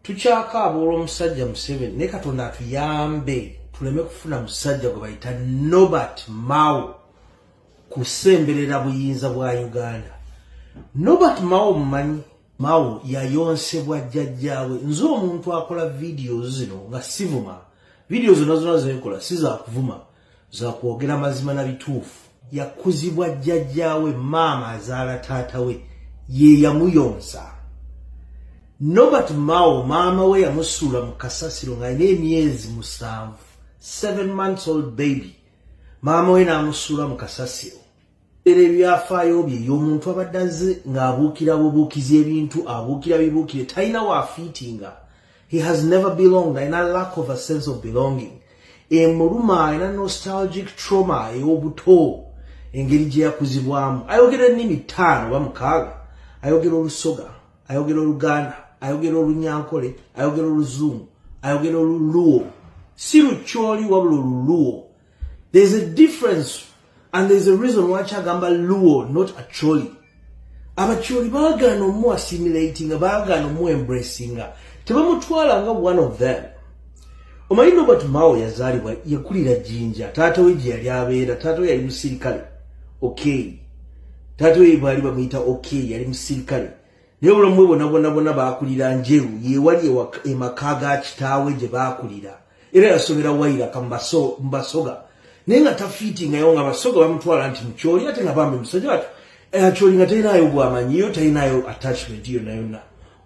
tukyakaaba olwomusajja museveni naye katonda atuyambe tuleme kufuna musajja gwe bayita nobert mao kusemberera buyinza bwa uganda nobert mao mumanyi mao yayonsebwa jjajjaawe nze omuntu akola vidiyo zino nga sivuma vidiyo zona zona zekola sizakuvuma za kwogera mazima na bituufu yakuzibwa jjajjaawe maama azaala taata we ye yamuyonsa nobert mao maama we yamusuula mu kasasiro ng'alina emyezi musanvu seven months old baby maama we n'amusuula mu kasasiro era ebyafaayo bye y'omuntu abadde azze ng'abuukira bubuukizi ebintu abuukira bibuukire talina waafiitinga he has never belonged alina lack of a sense of belonging emuluma alina nostalgic trauma ey'obuto engeri gye yakuzibwamu ayogera ennimi ttaano oba mukaaga ayogera olusoga ayogera oluganda ayogera olunyankole ayogera oluzungu ayogera oluluwo si lukyoli wabula oluluwo There is a difference and there is a reason why Chagamba Luo not Acholi. Abacholi bagano mu assimilating bagano mu embracing. Tebamutwala nga one of them. Omanyi Robert Mao yazalibwa yakulira Jinja. Taata we yali abeera, taata we yali musirikale. Okay. Taata we bali bamuyita okay, yali musirikale. naye obulamu bwe bona bona bona baakulira njeru yewali emaka e ga kitaawe gye baakulira era yasobera wairaka mubasoga naye nga tafiitingayo nga basoga bamutwala nti mukyoli ate nga bambi musajja watu akyoli eh, nga talinayo bwamanyi yo talinayo attachment yonna yonna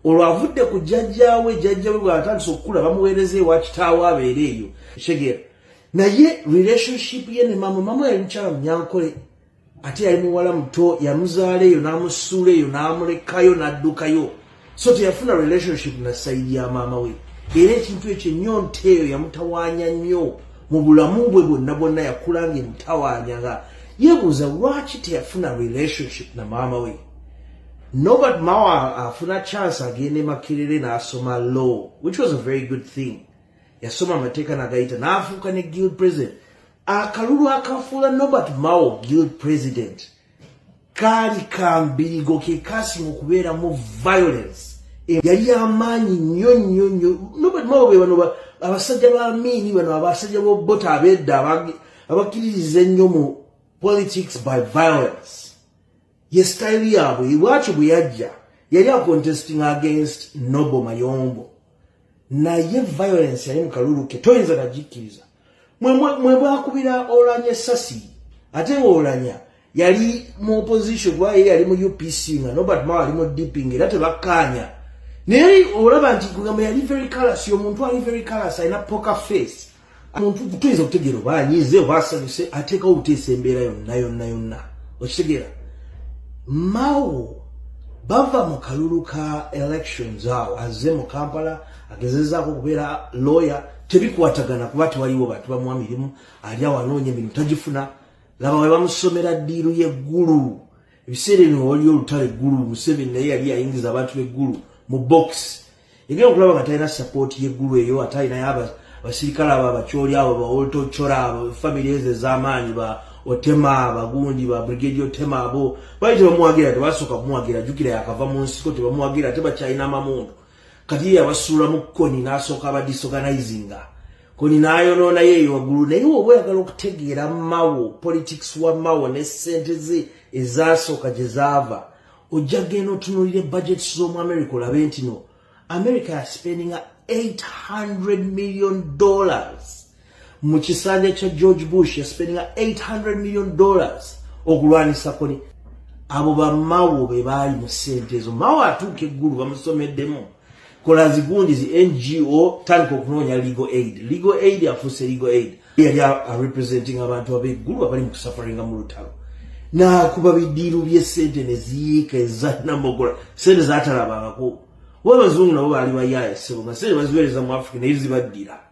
olwo avudde ku jjajjaawe jjajjawe bwatandisa okukula bamuweereza ewa kitaawe abeere eyo shegera naye relationship ye ne mama mama yali mukyala munyankole ate yali muwala muto yamuzaala eyo n'amusuula eyo n'amulekayo n'addukayo so teyafuna relationship na sayidi ya maama we era ekintu ekyo ennyonta eyo yamutawaanya nnyo mu bulamu bwe bwonna bwonna yakula nga emutawaanya nga yebuuza lwaki teyafuna relationship na maama we nobat mawa afuna chance agenda emakerere n'asoma law which was a very good thing yasoma amateeka nagayita n'afuuka ne guild president akalulu akafuula nobert mao guild president kaali kambirigo ke kasinga okubeeramu violence yali yamaanyi nnyo nnyo nnyo nobert mao be bano abasajja ba miini bano abasajja bobota abedda abakkiririza ennyo mu politics by violence ye sitayiri yaabwe lwaki bwe yajja yali acontesting against nobo mayombo naye violence yali mu kalulu ke toyinza nagikkiriza mwe bwakubira olanya esasi ate nga olanya yali mu opposition kuba ye yali mu upc nga nobert mawa ali mu dp nga era tebakkaanya naye olaba nti gamba yali very calas omuntu ali very calas alina poker face omuntu tuyinza okutegeera oba anyize oba asanyuse ateekawo obuteesa embeera yonna yonna yonna okitegeera mawo bava mu kalulu ka elections awo azze mu kampala agezezaako okubeera lawyer tebikwatagana kuba tewaliwo bantu bamuwa mirimu ali awo anoonya emirimu tagifuna laba we bamusomera ddiiru y'eggulu ebiseera ebyo wali olutalo eggulu museveni naye yali ayingiza abantu b'eggulu mu bokisi egenda okulaba nga talina sapooti y'eggulu eyo ate alinayo abasirikale abo abakyoli abo baoltochora abo famiry ezo ez'amaanyi ba otema abagundi ba brigedi otema abo bali tebamuwagira tebasooka kumuwagira jukira yakava mu nsiko tebamuwagira ate bakyalina amamundu kati yabasuulamu koni n'asooka aba disorganizinga koni n'ayonoona ye eyowaggulu naye oba oyagala okutegeera mawo politics wa mawo ne ssente ze ezaasooka gye zaava ojja genda otunuulira budgets z'omu america olabe nti no america yaspendinga 800 million dollars mu kisanja kya george bush yaspeninga 800 million dollars okulwanisa koni abo bamawo be baali mu ssente ezo mawo atuuka eggulu bamusomeddemu kola zigundi zi ngo tandika okunoonya legal aid legal aid afuuse legal aid yali arepresenting abantu abeggulu abali mu kusafaringa mu lutalo nakuba bidiiru byesente neziyiika ezanamogola sente zatalabangako wabazungu nabo baali bayaye sebo nga sente baziwereza mu africa naye zibaddira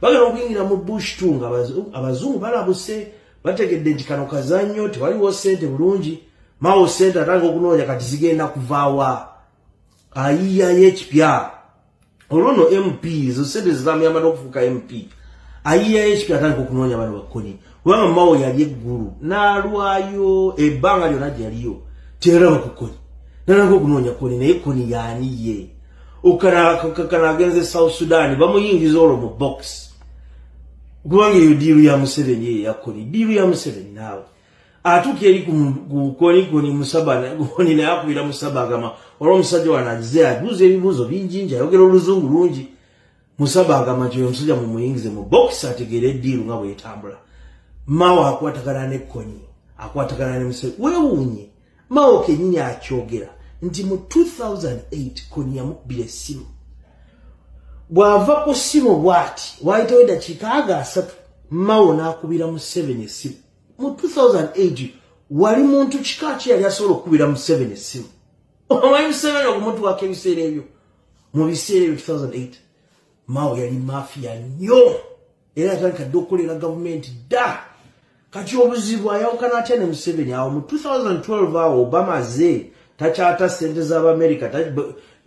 bagala okuyingira mu bush tu nga abazungu balabuse bategedde nti kano kazannyo tewaliwo sente bulungi mawo sente atanga okunoonya kati zigenda kuvaawa ayiyayo ekipya olwono mp ezo sente zezamuyamba n'okufuuka mp ayiyayo ekipya atandika okunoonya bano bakkoni kubanga mawo yali eggulu n'alwayo ebbanga lyona gyeyaliyo teyalaba ku koni nalanga okunoonya koni naye koni yaani ye okana agenze south sudan bamuyingiza olwo mu box kubanga eyo diiru ya museveni eyo yakoni diiru ya museveni naawe atuuka eri kukoni koni musabakoni naye akubira musaba agamba olwa omusajja wanagize abuuza ebibuuzo bingi nji ayogera oluzungu lungi Musaba agamba nti oyo musajja mumuyingize mu bokisi ategeera eddiiru nga bwetambula. Mao akwatagana ne konyi akwatagana ne museveni weewuunye mao kenyini akyogera nti mu 2008 konyi yamubbira essimu bw'ava ku ssimu bw'ati waayitawo eddakiika aga asatu mao n'akubira museveni essimu mu 2008 wali muntu kika ki yali asobola okukubira museveni essimu omanyi museveni okumutwako ebiseera ebyo mu biseera ebyo 2008 mao yali mafiya nnyo era yatandika dda okukolera gavumenti dda kati obuzibu ayawukana atya ne museveni awo mu 2012 awo obama ze takyata sente z'abamerica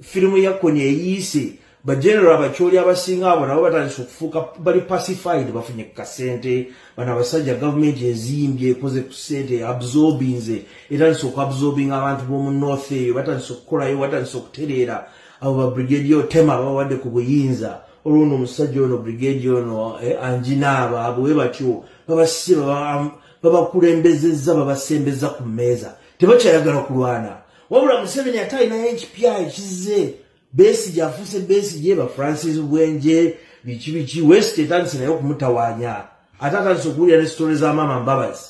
firimu ya koni eyiise bagenero abakyoli abasinga abo nabo batandise okufuuka bali pacified bafunye ku kasente bano abasajja gavumenti ezimbye ekoze ku sente absorbinze etandise okuabsorbinga abantu b'omu north eyo batandise okukolayo batandise okutereera abo ba brigedi otema babawadde ku buyinza olwo no omusajja ono brigedi ono eh, anjinaaba abo we batyo babasiba babakulembezezza babasembeza ku mmeeza tebakyayagala kulwana wabula museveni ate alinayo ekipya ekize Besigye afuuse Besigye ba Francis Bwenje biki biki West etandise naye okumutawaanya ate atandise okuwulira ne sitole za maama Mbabazi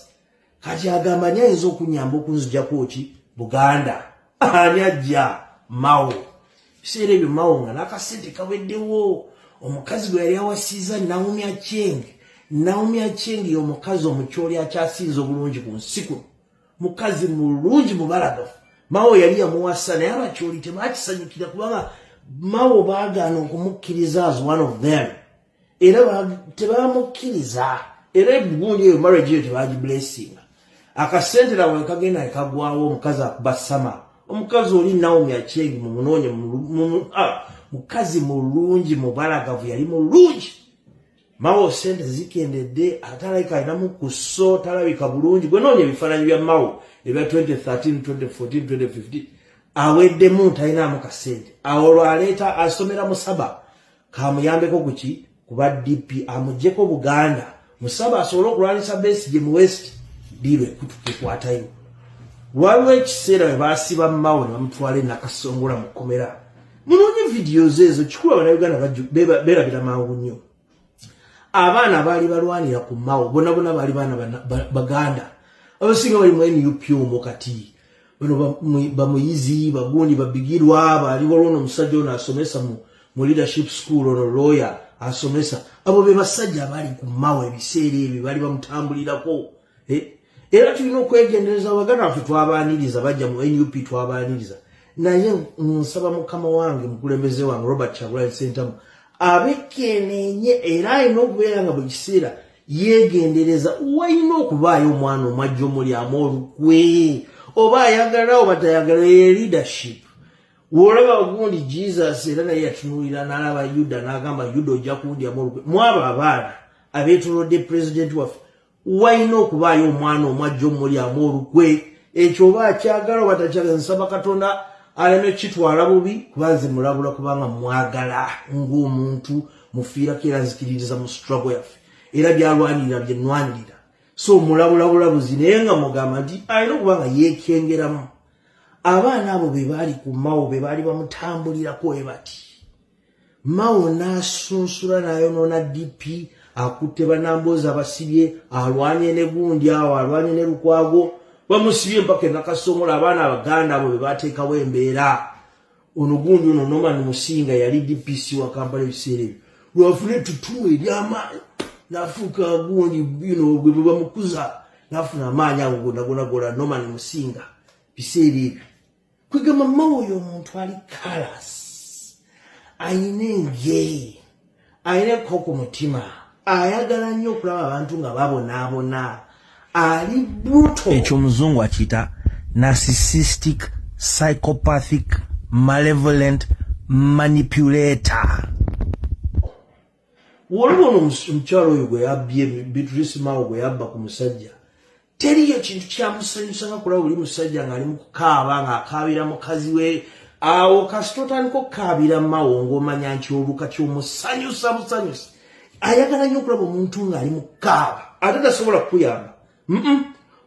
kati agamba ani ayinza okunyamba okunzijako ki Buganda ani ajja Mao ebiseera ebyo Mao nga n'akasente kaweddewo omukazi gwe yali awasiza Naomi Achieng Naomi Achieng y'omukazi omukyoli akyasinze obulungi ku nsi kuno mukazi mulungi mubalagafu mawo yali yamuwasa naye abakyoli tebakisanyukira kubanga mawo baagaana okumukkiriza as one of them era tebamukkiriza era ebugundi eyo marriage eyo tebagiblessinga akasente nawe kagenda ekagwawo omukazi akuba sama omukazi oli naomi akyengi mumunoonye ah, mukazi mulungi mubalagavu yali mulungi Mao sente zikendedde atalabika alinamu ku so talabika bulungi gwe noonya ebifaananyi bya Mao ebya 2013 2014 2015 aweddemu talinaamu kasente awo olwo aleeta asomera musaba kamuyambeko kuki kuba dp amugyeko buganda musaba asobole okulwanyisa besi gye mu west diirwe kutukikwatayo waliwo ekiseera we basiba Mao ne bamutwala enakasongola mu kkomera munoonye vidiyozi ezo kikulu abanauganda berabira mangu nnyo abaana baali balwanira ku mawo bona bona baali baana baganda abasinga bali mu nup omu kati bano bamuyizi bagundi babigirwa baaliwo lwono omusajja ono asomesa mu leadership school ono lawyer asomesa abo be basajja abaali ku mawo ebiseera ebyo baali bamutambulirako eh, era tulina okwegendereza abaganda baffe twabaaniriza bajja mu nup twabaaniriza naye nsaba mukama wange mukulembeze wange robert kyagulanyi sentamu abekenenye era alina okubeera nga buli kiseera yegendereza walina okubaayo omwana omwajja omulyamu olukwe oba ayagala oba tayagala ye leadership wolaba ogundi jesus era naye yatunulira nalaba yuda nagamba yuda ojja kundyamu olukwe mwabo abaana abetolodde pulezidenti waffe walina okubaayo omwana omwajja omulyamu olukwe ekyo oba akyagala oba takyagala nsaba katonda aleme kitwala bubi kuba nze mulabula kubanga mwagala ng'omuntu mufiirako era nzikiririza mu struggle yaffe era byalwanirira byenwanirira so mulabulabulabuzi naye nga mugamba nti alina okuba nga yeekengeramu abaana abo be baali ku mawo be baali bamutambulirako we bati Mao n'asunsula n'ayonoona DP akutte banamboozi abasibye alwanye ne gundi awo alwanye ne lukwago bamusibye mpaka enakasongola abaana abaganda abo bebateekawo embeera ono gundi ono norman musinga yali dpc wa kampala ebiseera ebyo lwafuna etutumu eryamaanyi nafuuka gundi bino gwe bwebamukuza nafuna amaanyi ago gonagonagola norman musinga biseera ebyo kwegamba mawe oyo omuntu ali kalas ayina engeri ayineko ku mutima ayagala nnyo okulaba abantu nga babonaabona ali bruto ekyo omuzungu akiyita narcissistic psychopathic malevolent manipulator waliwo no omukyalo oyo gwe yabbye beatrice mao gwe yabba ku musajja teriyo kintu kyamusanyusa nga kulaba oli musajja ng'ali mu kukaaba ng'akaabira mukazi we awo kasita otandika okukaabira mawo ng'omanya nti oluka kyomusanyusa musanyusa ayagala nnyo okulaba omuntu ng'ali mu kukaaba ate tasobola kukuyamba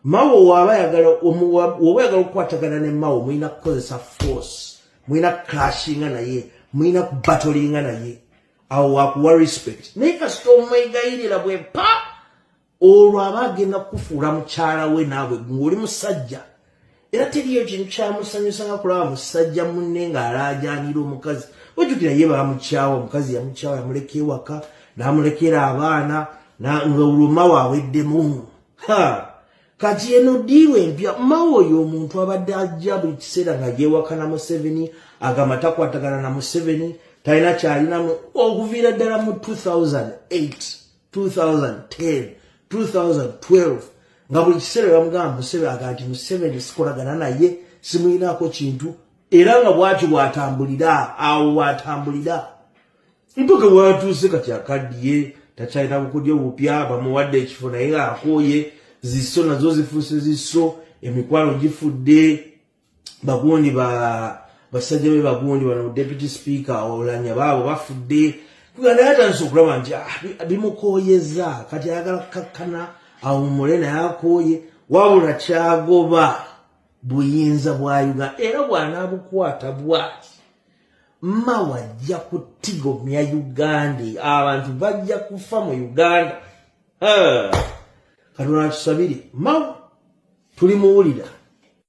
mawo waba ayagala woba ayagala okukwatagana ne mawo mulina kukozesa force mulina kuclashinga naye mulina kubatolinga naye awo wakuwa respect naye kasita omwegayirira bwe pa olwo aba agenda kukufuula mukyala we naawe ng'oli musajja era teriyo kintu kyamusanyusa nga kulaba musajja munne ng'alaajanira omukazi ojjukira ye baamukyawa omukazi yamukyawa yamuleka ewaka n'amulekera abaana nga olwoma waaweddemu ha kati eno diiwe empya mawe oyo omuntu abadde ajja buli kiseera nga yewaka na museveni agamba takwatagana na museveni talina kyalinamu okuviira ddala mu 2008 2010 2012 nga buli kiseera bamugamba museveni aga nti museveni sikolagana naye simuyinaako kintu era nga bwati bwatambulira awo bwatambulira mpaka watuuse kati akaddiye takyalina bukodya obupya bamuwadde ekifo naye ng'akooye zisso nazo zifuuse zisso emikwano gifudde bagundi ba basajja be bagundi bano deputy speaker olanya baabo bafudde kuganda yatandise okulaba nti ah, bimukoyeza kati ayagala kukakkana awumule naye akoye wabula kyagoba buyinza bwa uganda era bwanabukwata bwati mma wajja kutigomya uganda abantu bajja kufa mu uganda katonda tusabire mma tulimuwulira